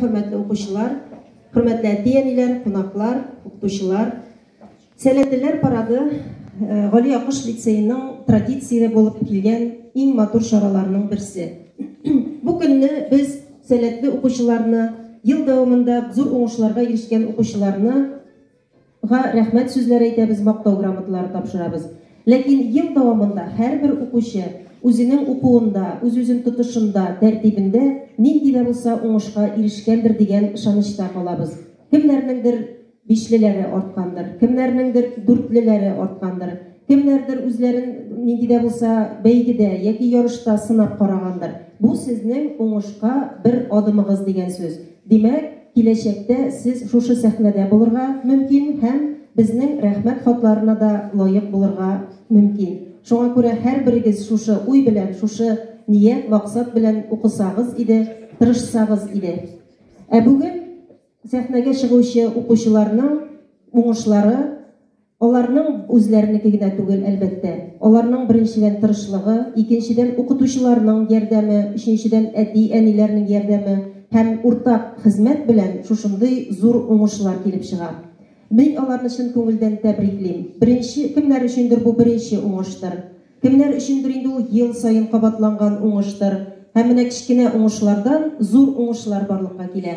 Хөрмәтле укучылар, хөрмәтле әти-әниләр, кунаклар, укытучылар. Сәләтлеләр парады э, Гали Акыш лицееның традицияле булып килгән иң матур чараларының берсе. Бу көнне без сәләтле укучыларны, ел дәвамында зур уңышларга ирешкән укучыларны Га рәхмәт сүзләре әйтәбез, мактау грамоталары тапшырабыз. Ләкин ел дәвамында һәрбер укучы үзенең укуында, үз-үзен тотышында, тәртибендә нинди дә булса уңышка ирешкәндер дигән ышанычта калабыз. Кемнәрнеңдер бишлеләре арткандыр, кемнәрнеңдер дүртлеләре арткандыр. Кемнәрдер үзләрен нинди дә булса бәйгедә яки ярышта сынап карагандыр. Бу сезнең уңышка бер адымыгыз дигән сүз. Димәк, киләчәктә сез шушы сәхнәдә булырга мөмкин һәм безнең Рәхмәт хатларына да лаек булырга мөмкин. Шуңа күрә һәрберегез шушы уй белән, шушы ният, максат белән укысагыз иде, тырышсагыз иде. Ә бүген. Сәхнәгә чыгучы укучыларның уңышлары, аларның үзләренеке генә түгел, әлбәттә. Аларның, беренчедән, тырышлыгы, икенчедән, укытучыларның ярдәме, өченчедән, әти-әниләрнең ярдәме һәм уртак хезмәт белән шушындый зур уңышлар килеп чыга. Мин аларны чын күңелдән тәбриклим. Беренче, кемнәр өчендер бу беренче уңыштыр. Кемнәр өчендер инде ул ел саен кабатланган уңыштыр. Һәм менә кечкенә уңышлардан зур уңышлар барлыкка килә.